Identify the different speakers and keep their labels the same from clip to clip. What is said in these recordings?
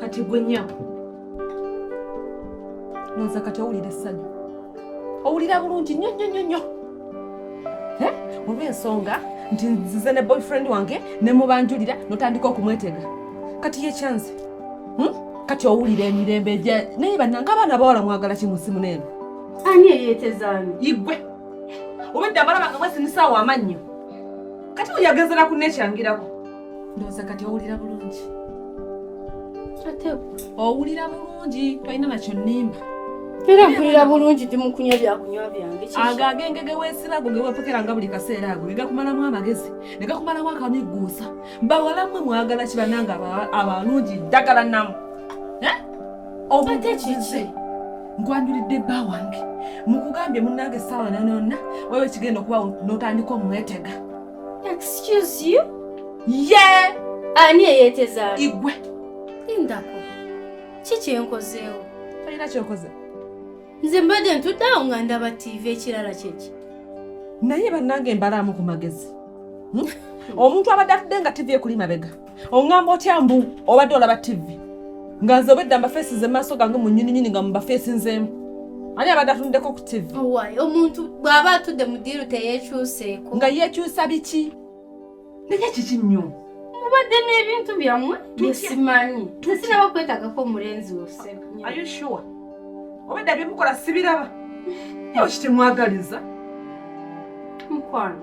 Speaker 1: kati gwe nyabo noza kati owulira essanyu owulira bulungi nnyo nnyo nnyo nnyo eh? olw'ensonga nti nzize ne boyfriend wange ne mubanjulira notandika okumwetega kati yekyanze hmm? kati owulira emirembe gya naye bannanga abaana bawala mwagala ki mu simu neeno ani
Speaker 2: eyetezaani igwe
Speaker 1: obedde abalaba nga mwesinisa awo amannyo kati buli agezera ku nekyangirako ndowooza kati owulira bulungi owulira bulungi tolina nakyo nnimba era mpulira
Speaker 2: bulungi ndi mukunywa byakunywa byange ago agenge gewesiba
Speaker 1: ago gewepokera nga buli kaseera ago negakumalamu amagezi negakumalamu akamiguusa bawalamwe mwagala kibananga abalungi ddagala namu eh?
Speaker 2: obutekiki nkwanjulidde
Speaker 1: bba wange mukugambye munange saawa nanonna wewe kigenda okuba notandika omwetega Excuse
Speaker 2: you? Yeah!
Speaker 1: Ani
Speaker 2: eyeteza? Igwe.
Speaker 1: Indako.
Speaker 2: Kiki enkozeewo? Tolina kyokoze.
Speaker 1: Nze
Speaker 2: mbadde ntudde awo nga ndaba TV ekirala kyeki. Naye
Speaker 1: bannange mbalaamu ku magezi. Hmm? Omuntu abadde atudde nga TV ekuli mabega. oŋŋamba otya mbu obadde olaba tivi nga nze obedda mbafeesi ze maaso gange mu nyininyini nga mubafeesi nzeemu ani abadde atunuddeko ku tivi omuntu
Speaker 2: bw'aba atudde mu diiru teyeekyuseeko nga yeekyusa
Speaker 1: biki naye kiki nnyo mubadde
Speaker 2: n'ebintu byammwe byesimanyi tesinaba kwetagako omulenzi wose
Speaker 1: obedda byemukola sibiraba nyo kitemwagaliza
Speaker 2: mukwano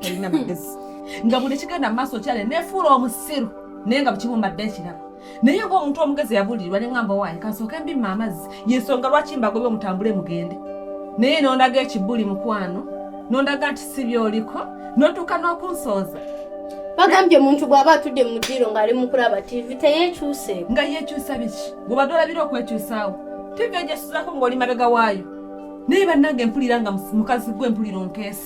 Speaker 1: talina magezi nga buli kigenda mu maaso kyale nefuula omusiru naye nga bukibumbadde ekirabo naye nga omuntu omugezi yabulirirwa ne ngamba waaye kansooke mbimma amazzi yensonga lwaki mbagobe omutambule mugende naye nondaga ekibuli mukwano nondaga nti si byoliko notuuka n'okunsooza bagambye
Speaker 2: omuntu bw'aba atudde mu ddiiro ng'ali mu kulaba tiivi teyeekyuse nga yeekyusa biki
Speaker 1: gwebadde olabira okwekyusaawo tiivi egyesuzaako ng'oli mabega waayo naye bannange mpulira nga mukazi gwe mpulira onkeesa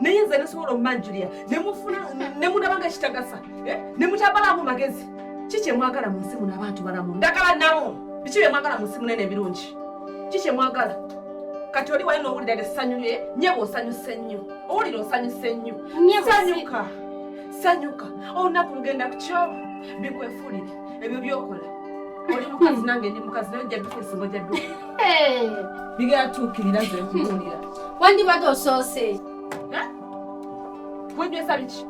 Speaker 1: naye nze nesobola omumanjulira nemufuna nemunabanga kitagasa eh? nemutabalamu magezi ki kyemwagala mu nsi muno abantu balamu ndagala nawo biki byemwagala mu nsi munene ebirungi ki kyemwagala kati oli wali nowulira essanyu lye nyebo osanyuse nnyo owulira osanyuse nnyo sanyuka sanyuka olunaku lugenda kukyo bikwefuulire ebyo byokola oli mukazi nange ndi mukazi naye ojja duka esimu ojja duka bigera tuukirira ze kubuulira wandibadde
Speaker 2: osoose
Speaker 1: wenywesa biki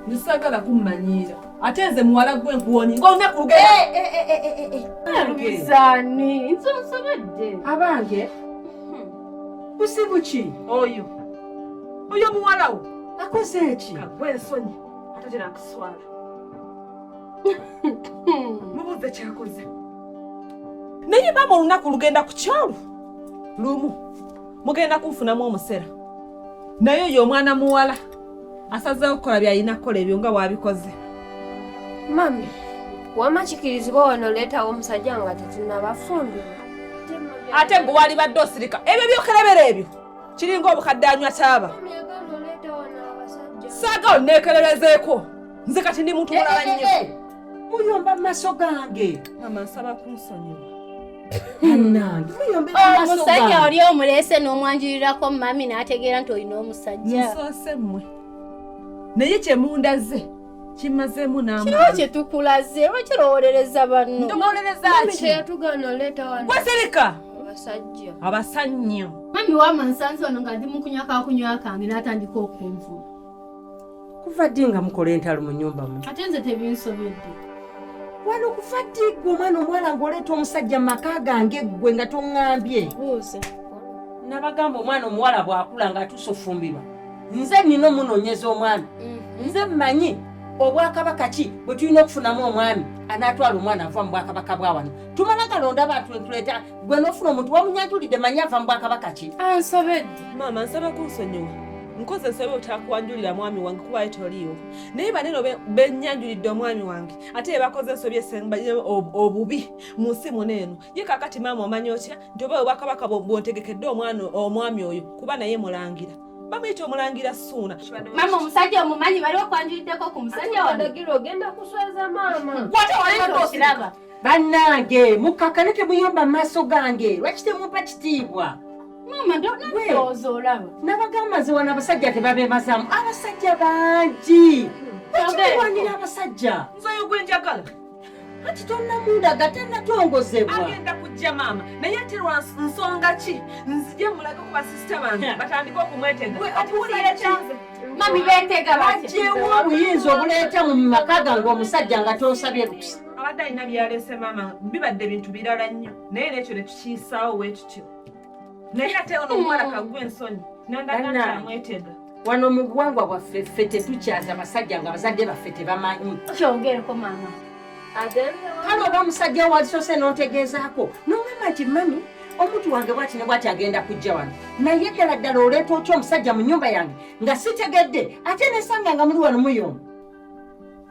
Speaker 1: nsagala kummanyiira ate nze muwala gwe nkuwonye nga olunaku lugeeaani
Speaker 2: nsosobedde abange
Speaker 3: busibu ki oyo
Speaker 1: oyo muwalawo akoze
Speaker 3: eki kagwe ensonyi
Speaker 1: atatera kuswala mubuuze kyakoze naye maama olunaku lugenda ku kyalo lumu mugenda kunfunamu omusera naye oyo omwana muwala asazeewo okukola byalina kukola ebyo nga waabikoze
Speaker 4: mami wama kikirizibwa wano oleetawo omusajja nga tetunabafumbira
Speaker 1: ate gwe walibadde osirika ebyo byokerebera ebyo kiringa obukadde anywa kyaba saagala neekererezeeko nze kati ndi muntu mulala eh, eh, nnyo eh, muyomba maso
Speaker 3: gange mama nsaba
Speaker 1: kunsonyiwa
Speaker 3: omusajja oli omuleese
Speaker 2: n'omwanjurirako mami n'ategeera nti olina omusajja nsoose mmwe
Speaker 1: naye kyemundaze kimazeemu namukiwa kyetukulaze
Speaker 2: bakirowolereza banno ndowolereza ki
Speaker 1: kyeyatugaana oleeta
Speaker 4: wano wasereka
Speaker 1: abasajja
Speaker 4: abasannyo
Speaker 1: mami wama
Speaker 2: nsanze wano nga ndi mu kunywa kakunywa kange n'atandika okunvuma
Speaker 3: kuva ddi nga mukola entalo mu nyumba mu ate nze
Speaker 2: tebinsobedde wano
Speaker 3: kuva ddi gwe omwana omuwala ngaoleeta omusajja mu maka gange ggwe nga toŋŋambye buuza
Speaker 2: nabagamba
Speaker 3: omwana omuwala bwakula nga atuusa ofumbirwa nze nina omunoonyeza omwana mm-hmm. nze mmanyi obwakabaka ki bwe tulina okufunamu omwami anaatwala omwana ava mu bwakabaka bwa wano tumala galonda abantu entuleeta gwe nofuna omuntu wamunyajulidde manya ava mu bwakabaka ki ansobedde maama
Speaker 2: nsaba
Speaker 1: kunsonyiwa nkoze nsobe otakwanjulira mwami wange kubayo toliiwo naye baneno benyanjulidde omwami wange ate yebakoze ensobi esemba obubi mu nsi muno eno ye kakati maama omanya otya nti oba obwakabaka bwontegekedde omwana omwami oyo kuba naye mulangira bamuyita omulangira suuna mama omusajja
Speaker 2: omumanyi bali okwanjuliddeko ku
Speaker 4: musajja wano ogenda kuswaza
Speaker 1: maama
Speaker 2: bannange
Speaker 3: mukkakane temuyomba mu maaso gange lwaki temumpa kitiibwa maama
Speaker 2: ndowooza olaba nabagamba nze wano
Speaker 3: abasajja tebabeemazamu abasajja bangi bakiwanira abasajja nze oyo gwe
Speaker 1: njagala anti
Speaker 3: tonnamundaga tannatongozebwa agenda kujja
Speaker 1: maama naye ate lwa nsonga ki nzije mulage ku basisita bange batandike okumwetega ati wulira kyanze mami beetega
Speaker 2: bajewo obuyinza
Speaker 3: obuleeta mu maka gange omusajja nga tosabye lukusa abadde alina byaleese
Speaker 1: maama bibadde bintu birala nnyo naye nekyo netukiyisaawo wekityo naye ate ono omuwala kagwa ensonyi nandagaamwetega wano mu
Speaker 3: buwangwa bwaffe ffe tetukyaza basajja nga abazadde baffe tebamanyi kyongereko
Speaker 2: maama
Speaker 3: kale oba omusajja walisose notegeezaako nomama nti mami omuntu wange bwati ne bwati agenda kujja wano naye ddala ddala oleeta otya omusajja mu nyumba yange nga sitegedde ate nesanga nga muli wano muyomu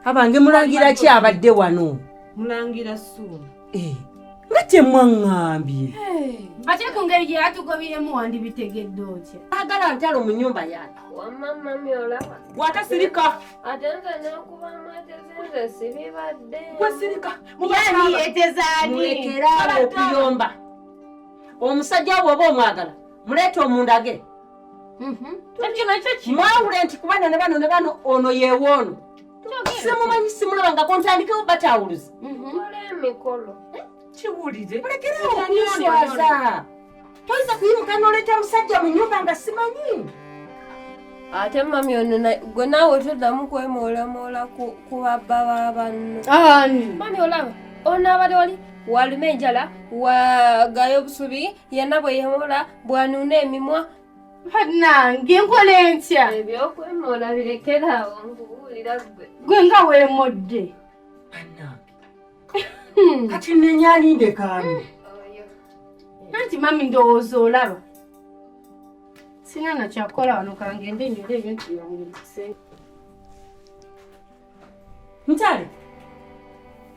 Speaker 3: abange mulangira ki abadde wano mulangira
Speaker 1: suuna eh, nga
Speaker 3: kyemwaŋŋambye ate
Speaker 2: ku ngeri gye yatugobyemu wandibitegedde otya agala ntalo mu
Speaker 3: nyumba yange
Speaker 4: watasirika wasirika
Speaker 2: mubaetezaaniekeraokuyomba
Speaker 3: omusajja wo oba omwagala muleeta omundage
Speaker 2: Mhm. mwawule nti kubano ne
Speaker 3: bano ne bano ono yewoono simumanyi simulaba nga kontandikewo batawuluzi mhm.
Speaker 4: kiwulire
Speaker 1: mulekerewo
Speaker 3: okuswaza toyinza kuyimuka noleeta musajja mu nyumba nga simanyi
Speaker 4: ate mami ono gwe naawe toddamu kwemoolamola ku babba ba banno mami olaba ono abade wali walume enjala wagayo obusubi yenna bwe yemola bwanuuna emimwa banange
Speaker 2: nkola entya ebyokwemoola
Speaker 4: birekerawo nkubuulira gwe gwe nga weemodde
Speaker 2: banange
Speaker 3: hmm. kati nenya alinde kaani
Speaker 2: anti mami ndowooza olaba sina nakyakola wano kangende nyole ebintu byange
Speaker 3: Ntale.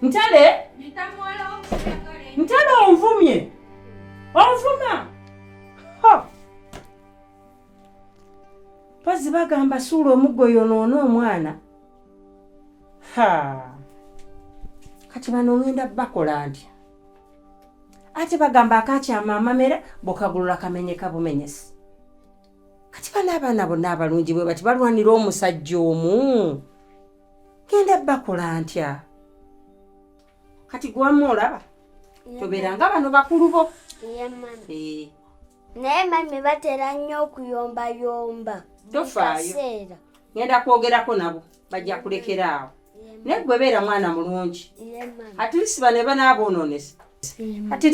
Speaker 3: Ntale. Ntale onvumye. Onvuma. Ha. Pazi bagamba suula omuggo yonoona omwana. Ha. Kati bano ngenda bakola ntya? Ate bagamba akakyama amamera bokagulula kamenyeka bumenyesi. kati bano abaana bonna abalungi bwe bati balwanira omusajja omu genda bakola ntya kati gwamu olaba tobeera nga bano bakulu bo eh.
Speaker 5: naye mami batera nnyo okuyombayomba tofaayo
Speaker 3: ngenda kwogerako nabo bajja kulekera awo naye gwe beera mwana mulungi atilisi bane banaaboonoonesa